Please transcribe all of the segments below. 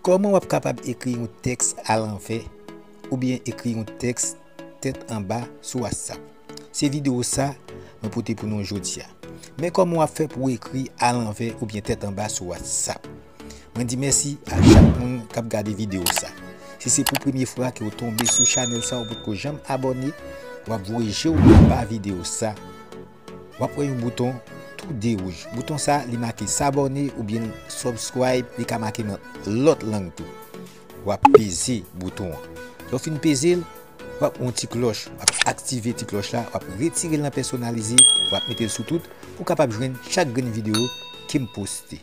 Kòman w ap kapab ekri yon tèks alanvè oubyen ekri yon tèks tèt anba sou whatsapp? Se videyo sa mwen pote pou nou jodi a. Men kòman w ap fè pou w ekri alanvè oubyen tèt anba sou whatsapp. Mwen di mèsi ak chak moun kap gade video sa. Si se pou premye fwa ke ou tonbe sou chanèl sa ou potko janm abòne, wap voye je ou anba video sa, wap wè yon bouton tou de wouj. Bouton sa li make sabòne oubyen subscribe, li ka make nan lòt lang tou. Wap peze bouton an. Lè ou fin peze l, wap wè yon ti klòch, wap aktive ti klòch la, wap retire l nan pèsonalize, wap mete l sou tout pou kapab jwenn chak grenn video kem poste.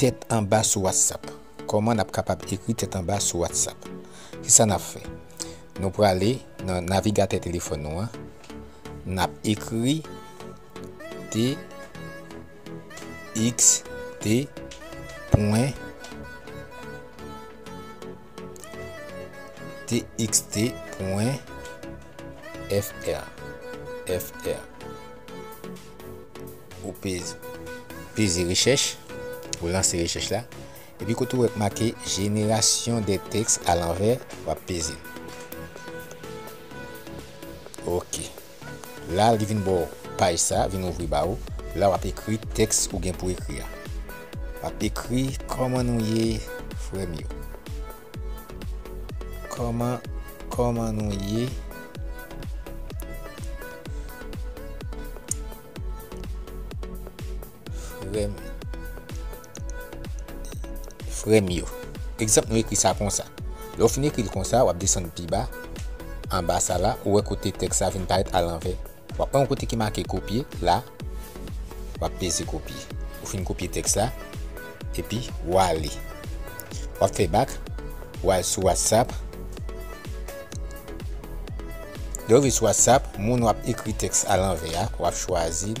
Tèt anba sou whatsapp. Kòman nap kapab ekri tèt anba sou whatsapp. Kisa nap fè. Nou prale nan navigatè telefòn nou an. Nap ekri txt pwen txt.fr Ou peze rechèch, ou lanse rechèch la, epi kote ou wè k make jenerasyon de tèks alanvè, w ap peze l. Ok. La li vin ba w paj sa, vin ouvri ba ou. La w ap ekri tèks ou gen pou ekri a. W ap ekri kòman nou ye frè m yo. Kòman, kòman nou ye. Frèm Frèm yo Egzanp nou ekri sa konsa Lè w fin ekri l konsa w ap desann pi ba Anba sa la ou wè kote tèks la vin parèt alanvè W ap pran yon kote ki make kopye la W ap peze kopye Ou fin kopye tèks la Epi w ale W ap fè bak W al sou whatsapp Lè w rive sou whatsapp Moun w ap ekri tèks alanvè a W ap chwazi l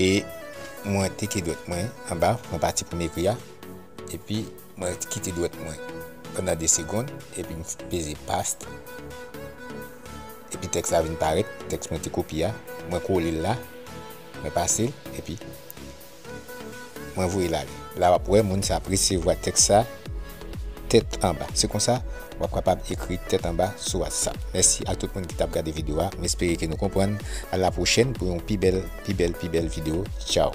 E mwen teke dwèt mwen anba nan pati pou m ekri a, epi mwen kite dwèt mwen pandan 2 segond, epi m peze paste, epi tèks la vin parèt, tèks mwen te kopye a, mwen kole l la, mwen pase l, epi. Mwen voye l ale. La w ap wè moun sa ap resevwa tèks sa tèt anba. Se konsa, w ap kapab ekri tèt anba sou Whatsapp. Mèsi ak tout moun ki t ap gade videyo a. M espere ke nou konprann. A la pwochèn pou yon pi bèl, pi bèl, pi bèl videyo. Tchaw!